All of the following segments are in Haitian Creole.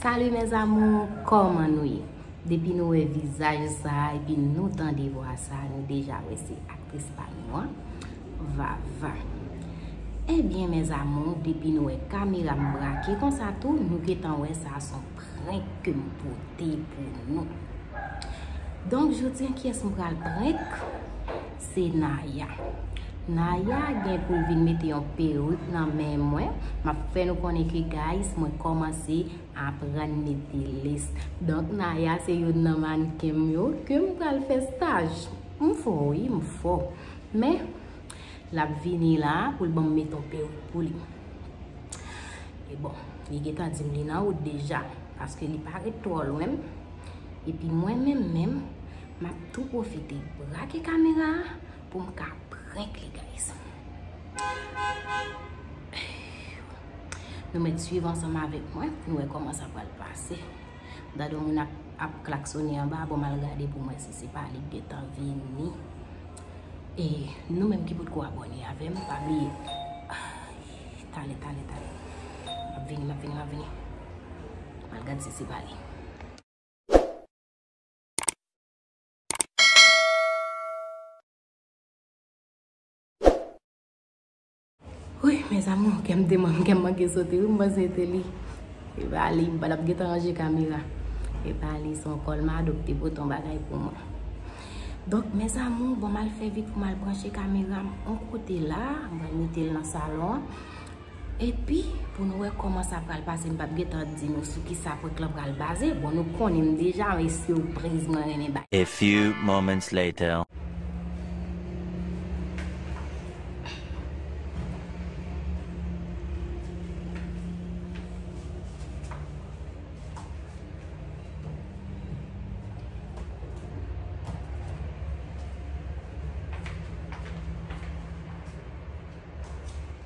Salut mes amours kòman nou ye depi nou wè vizaj sa epi nou tande vwa sa nou deja wè se aktris pa nou an Vava ebyen eh mes amours depi nou wè kamera m brake konsa tou nou gentan wè sa son prank ke m pote pou nou donk jodi an kiyès m pral prank. Se Naya. Naya gen pou l vin mete yon peruk nan men mwen. M ap fè nou konnen ke guys mwen kòmanse aprann mete lès. Donk Naya se youn nan mannken m yo ke m pral fè staj. M fò wi, m fò. Men, l ap vini la pou l ban m mete yon peruk pou li. E bon, li gen tan di m li nan wout deja. Paske li pa ret twò lwen m. Epi mwen menm menm. Map tou profite brake kamera a pou m ka prank li guys. Nou met swiv ansanm avek mwen pou nou wè koman sa pral pase. M tande yon moun ap klaksone anba bon mal gade pou m wè si se pa li k gentan vini. E nou menm ki potko abone avem pa bliye Tale tale tale Map vini map vini map vini Mal gad si se pa li. Wouyy mes amours kèm te manm kèm manke sote wi m panse te li epa li m patap gen tan ranje kamera epa li son kòl mado ki te pote yon bagay pou mwen donk mes amours bon m al fè vit pou m al branche kamera m yon kote la m pral mete l nan salon an. Epi pou nou wè kòman sa pral pase m pap gentan di nou sou kisa prank lan pral baze bon nou konnen m deja men surprise mwen renmen bay. A few moments later.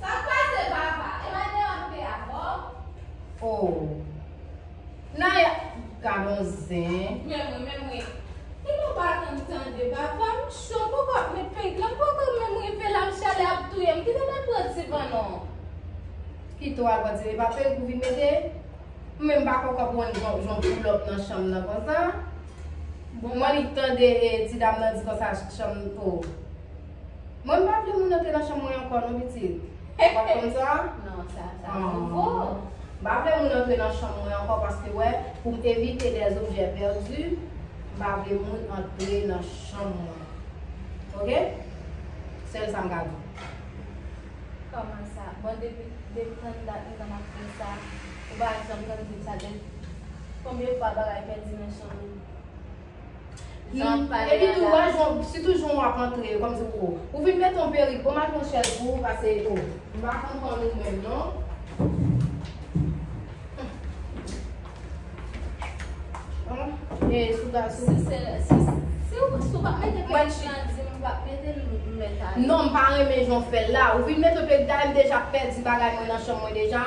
Sak pase papa e madanm ap fè avèw. Oh Naya gadon zen. Men mwen menm wi. Li pa pa tann tande papa m cho m poko ap met pent lan m poko menm rive la m chalè ap touyem kite m al pran divan non. Kite w al pran divan e pa pent ou vin mete? M menm m pa poko konn jan w poulòp nan chanm nan konsa. Bon mwen nik tande ti dam nan di konsa chanm oh. Mwen m pa vle moun antre nan chanm mwen ankò non pitit. Ou pa konn sa? Non, sa sa nouvo. M pa vle moun antre nan chanm mwen ankò paske wè, pou m evite des objets perdus, m pa vle moun antre nan chanm mwen. Ok? Sèl sa m ka di. Kòman sa? Bon depi depi tann dat nou konn ap fè sa, ou pa janm konn di m sa gen konbyen fwa bagay pèdi nan chanm ou? Nan pale Epi tou wè jan si tou jan wap antre kòm si ou ou vin met yon perik bon mal pran chèz pou ou pase ou m pa konprann ou menm non. Humm e sou ga sou Si se si si ou si ou pa mete perik lan di m pa mete l m met ale. Non m pa renmen jan w fè l la ou vin met yon perik dayè m deja pèdi bagay mwen nan chanm mwen deja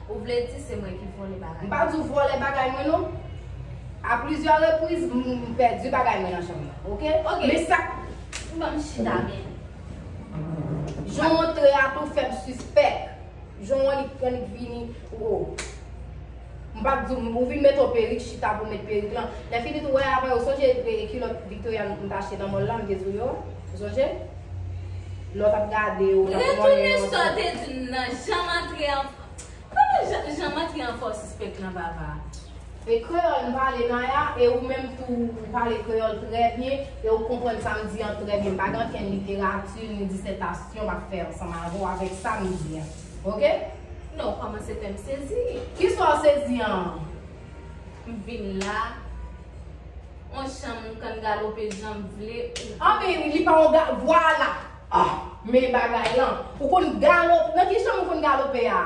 Ou vle di se mwen ki vole bagay. M pa di w vole bagay mwen non. A plizyè repriz m pèdi bagay mwen nan chanm nan. Ok? Ok. Men sa k. Ban m chita byen. Jan w antre a tou fè m sispèk. Jan w an li k pran li k vini. O. M pa t di w m. Ou vin mete w perik chita pou w met perik lan. Lè fini tou wè avè w. Ou sonje kilòt Victoria m t achte nan mòl la m te di w yo a? Ou sonje? Lè w t ap gade yo, w t ap wè yo. Retourne sa w te di m nan, janm antre an Koman jan janm antre an fòs sispèk lan papa? E kreyòl m pale Naya, e ou menm tou ou pale kreyòl trè byen, e ou konprann sa m di an trè byen. M pa gen ankenn literati ni disètasyon m ap fè ansanm avè w avèk sa m di an. Ok? Non, ou kòmanse fè m sezi. Kisa w sezi an? M vin la. On chan moun kan galope janm vle ou vle. Ah men li pa on ga vwala ah men bagay lan ou konn galo nan ki chanm ou konn galope a?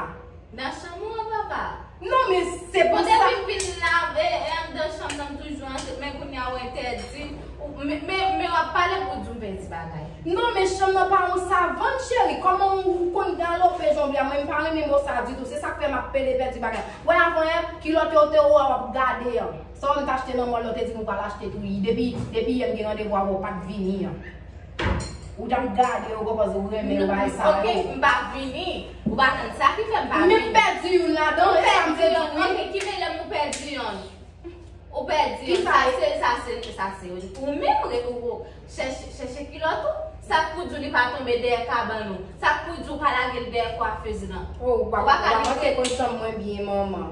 Nan chanm ou an papa. Non men se pou sa. Bon depi m fin lave e andan chanm nan m toujou antre men kounya ou entèdi men wap pale pou w di m pèdi bagay. Non men chanm nan pa on savann cheri kòman ou konn galope jan ou vle a mwen m pa renmen mo sa ditou se sak fè map pede pèdi bagay wè avan yè kilòt yo te ou a wap gade an. Sa ou t achte nan mall la ou te di m ou pral achte tou ui depi depi yè m gen randevou avè w pat vini an ou t ap gade yo kòz ou renmen bagay sa yo ok m pa vini ou pa konn sa ki fè m pa vini m pèdi youn ladan ou pèdi yon wi ok ki vle m ou pèdi yon ou pèdi yon sa se sa se sa se ou menm chèche chèche kilòt ou sa k pou di w li pa tonbe dèyè kabann ou sa k pou di w pa lage l dèyè kwafèz lan ou pa ka di w pa konn chanm mwen byen manman.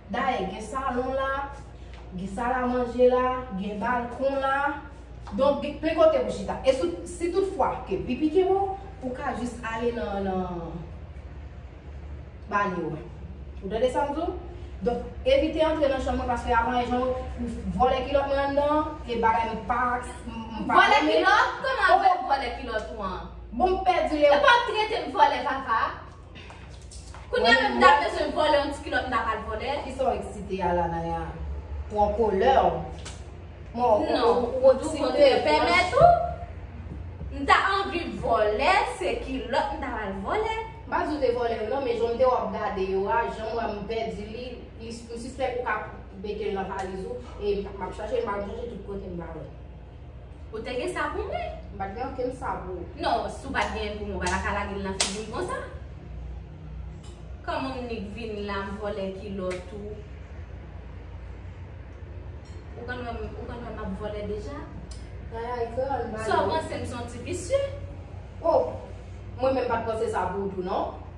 Dayè gen salon la, gen sal a manje la, gen balkon la. Donk gen plen kote pou chita. E si tout fwa ke pi pike wou, ou ka jis ale nan banyo a. Ou tande sa m di w? Donk evite antre nan chanm mwen paske avan e jan ou vole kilot mwen anndan an, e bagay m pa renmen. Vole kilot? Koman vole kilot ou an? Bon m pèdi le. Ou pa trete m vole papa? Kounya menm m ta bezwen vòlè yon ti kilòt m ta pral vòlè. Kisa w eksite a la Naya? Ou an kolè w. Non, ou tou kontre. Pèmèt ou? M ta anvi vòlè, se kilòt m ta pral vòlè. M pa di w te vòlè yo non, men jan m te wè w ap gade yo a, jan m wè m pèdi li, m sispèk ou ka mete l nan valiz ou e m ap chache l, m ap chache tout kote m pa wè l. Ou te gen sa pou mwen? M pa t gen okenn sa pou ou. Non, si w pa t genyen pou mwen, w pa ta ka lage l nan figi m konsa. Kòman m nik vini la, m vòlè kilòt ou. Ou konn wè m, ou konn wè m ap vòlè deja? Yaya e kè an ba li. Sa w panse m son ti visye? O! Mwen menm pa t panse sa pou ou tou non.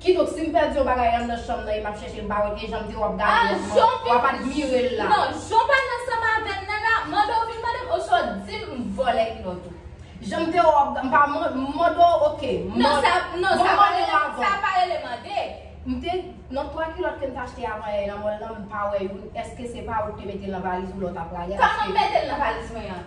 Kidonk sim pèdi yon bagay an nan chanm nan e map chèchel m pa wè ke janm di wap gade lòt moun wap admirel la. Non janw pa nan sanm avèm nan la mandew vin mandem oswa dim m vòlè kilòt ou. Janm di w wap m pa mandew ok non sa pa rele mande. M te nan 3 kilòt kem t achte avan yè nan mòl lan m pa wè youn eske se pa ou k te metel nan valiz ou lè w tap prale a. Sa mwen metel nan valiz mwen an.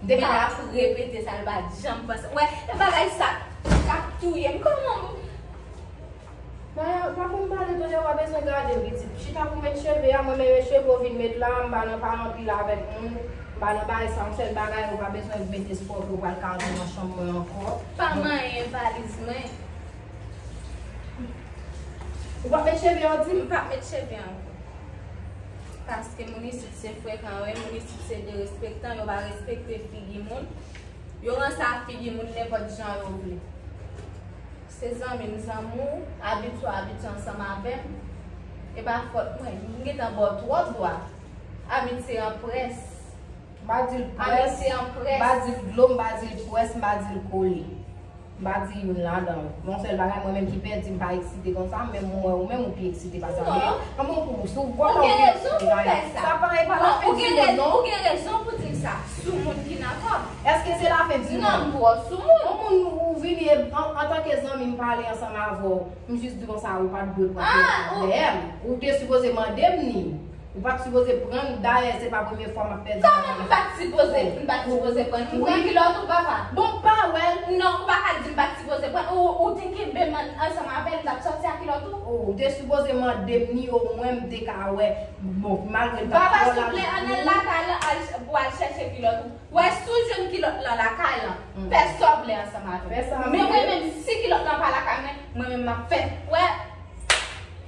M te ka la ap repete sa l pa t janm panse. Ou wè, e bagay sa k ap touye m. Kòman m. Maya, pa konn pale tou lè w a bezwen gade l pitit. Chita pou met cheve a, mwen menmen cheve w vin met la a. M pa nan pale anpil avèk moun. M pa nan bay sa m. Sèl bagay, ou pa bezwen met espò ke w pral ka antre nan chanm mwen ankò. Pa manyen valiz mwen. Ou p ap met cheve a w di m? M p ap met cheve a ankò. Paske moun isit. Se frekan wi minis se derespektan yo pa respekte figi moun yo ranse ak figi moun nenpòt jan yo vle se zanmi m zanmi w abitye w abitye ansanm avè m e pa fòt mwen m gentan ba w twòp dwa amitye an près m pa di l pwès m pa di l kole. M pa di youn ladan l. Yon sèl bagay mwen menm ki pè di m pa eksite konsa men m wè ou menm ou pi eksite pase m. Men kòman pou ou? Si w gwo kò pi eksite pa yon. Sa pa e pa la fen di monn non. Ou gen rezon pou di m sa. Sou moun ki nan kò m. Eske se la fen di monn? Non m twò sou moun. Yon moun ou vini e antanke zanmi m pale ansanm avè w. M jis di w konsa ou pa t dwe pran tèt ou dèyè m. Ou te sipoze mande m ni. Ou pat sipoze prann dayè se pa premye fwa map pèdi bagay Koman m pat sipoze m pat sipoze prann m pran kilòt ou papa. Bon m pa wèl. Non ou paka dim pat sipoze prann ou te kenbe m ansanm avèl m tap sòti a kilòt ou. Oh ou te sipoze mandem ni o mwen m te ka wè bon malgre m tap Papa twò laj souple an al lakay lan al pou al chèche kilòt ou wè si w jwenn kilòt lan lakay lan fè sa w vle ansanm avèm men mwen menm si kilòt lan pa lakay mwen mwen menm map fè wè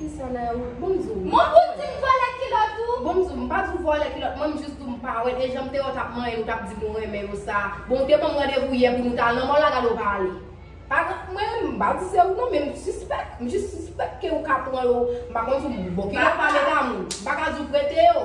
Kisa Naya wè? Bon di w. Mwen pou di m vòlè kilòt ou? Bon di w, m pa di w vòlè kilòt mwen, m jis di w m pa wè l e jan m te wè w t ap manyen l ou t ap di m ou renmen yo sa a. Bon ou te ban m randevou yè pou nou t al nan mòl la gade w pa ale. Pa gen, mwen m pa di se ou non men m sispèk, m jis sispèk ke ou ka pran yo, m pa konn si w bon kilòt pa men damou. M pa ka di w prete yo.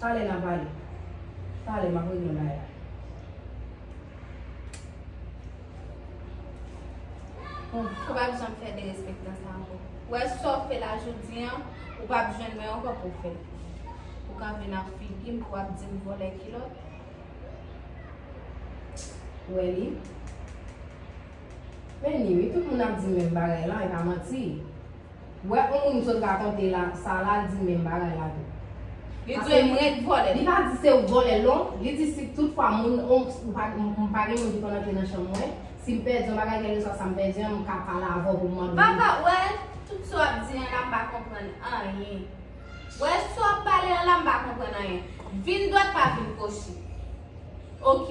Talè na pale. Talè map regle yon bagay la. Ou pap janm fè derespektan sa anko. Ou wè sa w fè la jodi an, ou pap jwenn mwen anko pou w fè l. Ou ka vin ak figi m pou w ap di m vòlè kilòt. Ou wè li? Men li wi, tout moun ap di menm bagay la, e pa manti. Wè on moun sot rakonte la sa la di menm bagay la tou. Li dwe m ret vòlè. Li pa di se ou k vòlè l non, li di si tout fwa moun on m pa gen moun ki konn antre nan chanm mwen, si m pèdi yon bagay kèlkeswa sa m pèdi an m ka pale avè w pou m mande w li. Papa wè tout sa w ap di an la m pa konprann anyen. Wè sa w ap pale an la m pa konprann anyen. Vin dwat pa vin kwochi. Ok.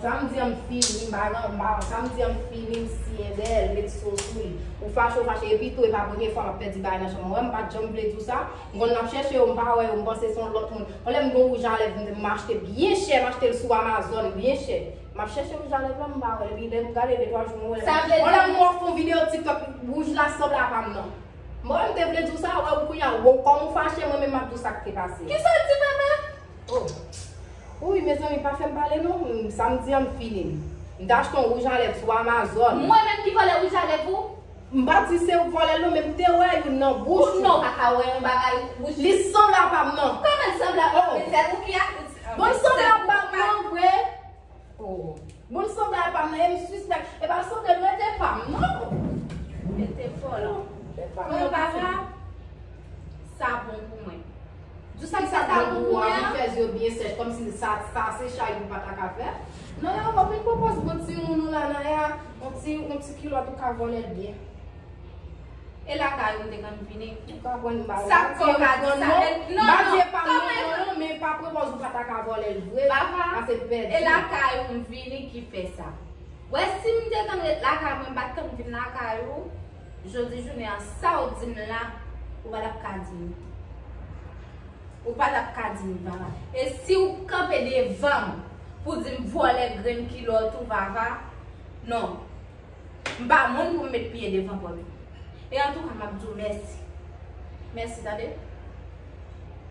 Samdi an m fini, m pa nan m pa samdi an m fini m siye dèyè l met so sou li. Ou fache ou fache epi tou e pa premye fwa m ap pèdi bagay nan chanm an. Ou wè m pa t janm vle di w sa? M konn m ap chèche yo m pa wè yo m panse se yon lòt moun. Yon lè m gen yon wouj a lèv m m achte byen chè m achte l sou amazon byen chè. M ap chèche wouj a lèv la m pa wè l epi lè m gade de twa jou m wè l. Yon lè m wè w fon videyo tiktok wouj la sanble a pa m nan. M wè m te vle di w sa wè ou kounya wou kòm ou fache mwen menm m ap di w sa k te pase. Kisa l di papa? Oh Wouyy mezanmi pa fèm pale non sa m di an m fini M ta achte yon wouj a lèv sou amazon. Mwen menm ki vòlè wouj a lèv ou? M pa di se ou k vòlè l non men m te wè youn nan bouch ou. Pou non w pa ka wè yon bagay nan bouch. Li sanble a pa m nan. Kòman l sanble a pa w men se ou ki ak. Bon l sanble a pa m nan vre. Oh Moun sanble a pam nan em sispèk epa sanble mwen te pam non Mwen te fòl Bon papa Sa bon pou mwen Di sa sa ta bon pou mwen an Fèz yo byen sèch kòmsi sa se chay li pata ka fè Nan ya wap vin pwopòz bon timoun ou la nan ya On ti kilòt ou ka vòlèl byen. E lakay ou m te konn vini. Ou ka pran bal la. Sak fè w ka di sa. Non, non. Bal pa m non non non men pa prepoz ou pa ta ka vòlè l vre. Baba, e lakay ou m vini ki fè sa. Wè si m te konn ret lakay mwen m pa t konn vin lakay ou. Jodi jounen an sa w di m la ou pa t ap ka di m. Ou pa t ap ka di m Vava. E si w kanpe devan m pou di m vòlè grenn kilòt ou Vava. Non. M pa moun pou m met pye devan kò nou. E antouka m ap di w mèsi. Mèsi tande.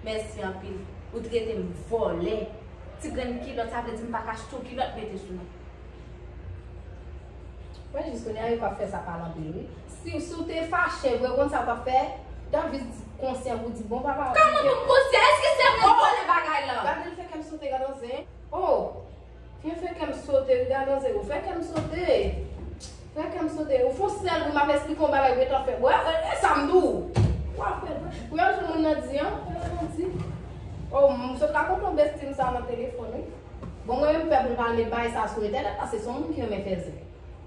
Mèsi anpil. Ou trete m vòlè. Ti grenn kilòt sa vle di m pa ka achte w kilòt mete sou mwen. Mwen jis kounye a yo pa fè sa pale anpil wi. Si w te fache vre ou konn sa w t ap fè? Dam jis konsyan pou di bon papa. Kòman pou m konsyan? Eske se mwen k vòlè bagay lan? Gade l fè kè m sote gad on zen. Oh! Mwen fè kèm sote wi gade manzè ou fè kèm sote Fè kèm sote ou fon sèl pou map esplike yon bagay gentan fèm wè esam di w Wap fè ou wè jan moun nan di an Eske nan di Oh m sot la konn yon besti m sa nan telefòn wi Bon mwen menm m pè pou m pa ale bay sa sou entènèt paske son moun ki renmen fè zen.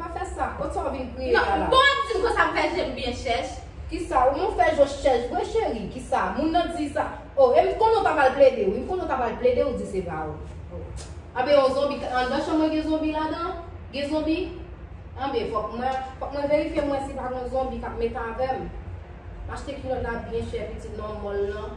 Pa fè sa, kot sa w vin kriye la la? Non, bon ap di m konsa m fè je m byen chèch. Kisa, ou menm w fè je w chèch vre cheri? Kisa, moun nan di sa? Oh, e m t konnen w ta pral plede wi, m t konnen w ta pral plede w di se pa ou. Oh. Anben yon zonbi t anndan chanm mwen gen zonbi ladan? Gen zonbi? Anben fòk mwen, fòk mwen verifye m wè si pa gon zonbi k ap met avè m. M achte kilòt la byen chè pitit nan mòl lan.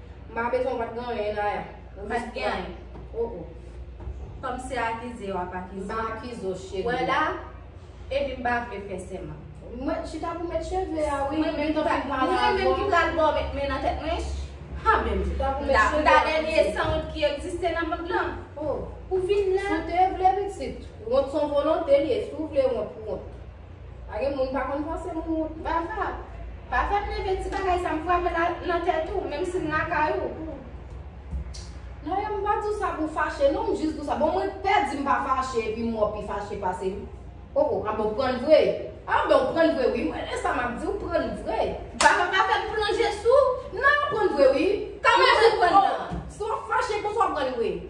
Mpa bezwen wap gen anyen Naya. Ou pat gen anyen. Oh oh. Kòm se akize wap akize. Mpa akize w cheri. Wè la, epi mpa vle fè sèman. Mwen chita pou mèt cheve a wi. Mwen menm ki pral pale avèw. Mwen menm ki pral baw mèt men nan tèt mwen. Ha menm. Chita pou mèt cheve a. Mta dènye sanwont ki egziste nan mond lan. Oh. Ou vin la. Si w te vle pitit. Wont son volonte li ye. Si w vle wont, wont. Pa gen moun pa konn panse moun yo bava. Pa fè m leve ti bagay sa m frape la nan tèt ou menm si m lakay ou. Nayoo m pa di w sa pou w fache non m jis di w sa bon mwen pè di m pa fache epi m wè w pi fache pase m. Oh oh a bon w pran l vre. Ah ben w pran l vre wi m renmen sa m ap di w pran l vre. Bava pa fè m plonje sou. Nan pran l vre wi. Kòman jan w pran l nan. Si w ap fache konsa w pran l vre.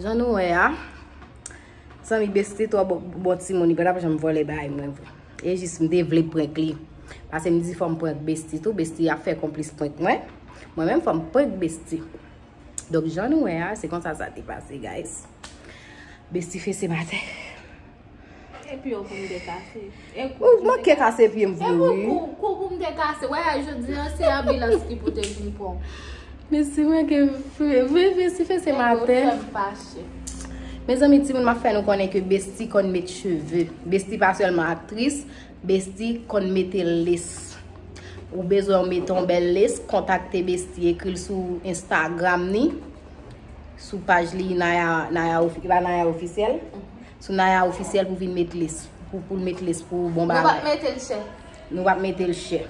Jan nou wè a, san mi besti twa bon ti moun, li pa tap jan m vole bay mwen vre. E jis m te vle prank li. Pase m di fò m prank besti tou, besti a fè konplis prank mwen. Mwen menm fò m prank besti. Donk jan nou wè a, se konsa sa te pase guys. Besti fese batè. Epi yo koum de kase. Ou manke kase pye m vre wi. Epi yo koum de kase. Wè a jodi an se abilas ki pote vin pon. Mesi mwen ke fwe. Vwe vwe si fwe se maten. Epi yo fem fache. Mezanmi ti moun ma fè nou konnen ke besti konn met cheve. Besti pa selman aktris. Besti konn mete les. Ou bezwen ou mete yon bel les. Kontakte besti ekri l sou instagram ni. Sou paj li naya ofi. Epa naya ofisyel. Sou Naya officiel pou vin met lis. Pou l met lis pou bon bagay. Nou pap mete l chè. Nou pap mete l chè.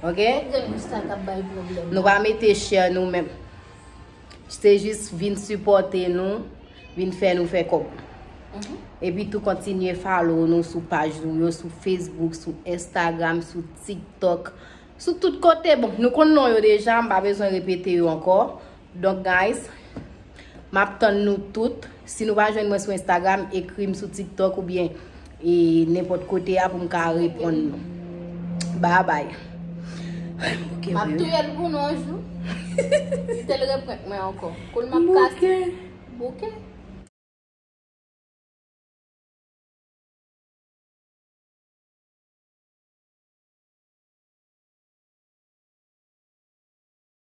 Ok? Ou gen yon star kap bay problem. Nou pa mete chè nou menm. Se jis vin supporte nou. Vin fè nou fè kob. E pi tou kontinye follow nou sou page nou yo. Sou Facebook, sou Instagram, sou TikTok. Sou tout kote. Bon, nou konn non yo deja. M pa bezwen repete yo anko. Donk guys Map tann nou tout Si nou pa jwenn mwen sou Instagram ekrim sou tiktok ou byen e nenpòt kote a pou m ka reponn nou Bye bye Map touyel pou nou yon jou Si tel reprank mwen ankò Koul map kase Bouke.